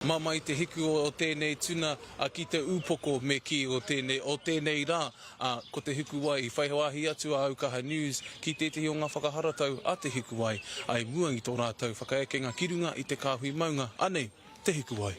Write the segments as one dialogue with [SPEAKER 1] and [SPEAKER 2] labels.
[SPEAKER 1] Māmā i te hiku o tēnei tuna a ki te upoko me kī o tēnei o tēnei rā a ko te hukuwai i whai wāhi atu a Aukaha News ki tētehi o ngā whakaharatau a te hikuwai a i mua i tō rātou whakaekenga ki runga i te kāhui maunga anei te hikuwai.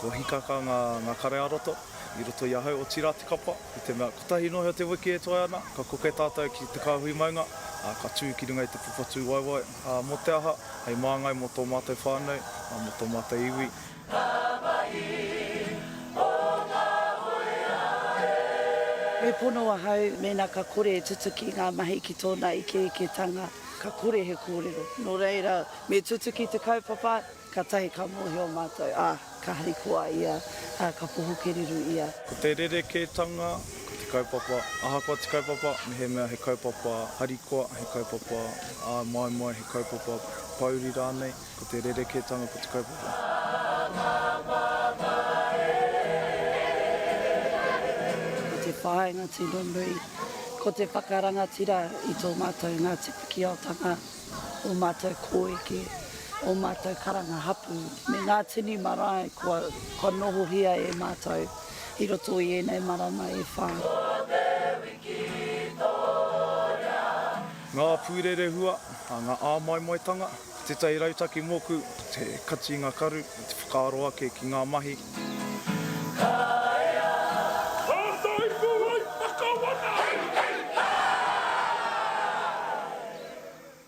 [SPEAKER 2] Ko Hikaka ngā kare-ā-roto i roto i ahau, otirā te kapa, i te mea kotahi noa iho te wiki e toe ana, ka koke tātou ki te kāhui maunga, ā, ka tū ki runga i te papa tūwaewae, ā, mō te aha, hei māngai mō tō mātou whānau, ā, mō tō mātou iwi. Ngā mahi o ngā
[SPEAKER 3] hōia e. Me pono ahau mēnā ka kore e tutuki ngā mahi ki tōna ikeiketanga, ka kore he kōrero. Nō reira, me tutuki te kaupapa, Katahi ka mohio matou, a, ka harikoa ia, a, ka poho kereru ia. Ko te rerekētanga,
[SPEAKER 2] ko te kaupapa, ahakoa te kaupapa, mehemea he kaupapa harikoa, he kaupapa āmoemoe, he kaupapa pōuri rānei, ko te rerekētanga ko te kaupapa.
[SPEAKER 3] Ko te whāinga tino nui, ko te whakarangatira i tō mātou Ngāti Pikiaotanga. ō mātou kōeke, ō mātou karanga hapū, me ngā tini marae kua, kua nohohia e mātou i roto i ēnei marama e whā. Ko te wiki tōrea.
[SPEAKER 2] Ngā pūrerehua, ngā āmoemoetanga, ko tētahi rautaki mōku, ko te kati i ngā karu, me te whakaaro ake ki ngā mahi. Kaea! Tātaipu ai Pakawana! Hei! Hei! Hei!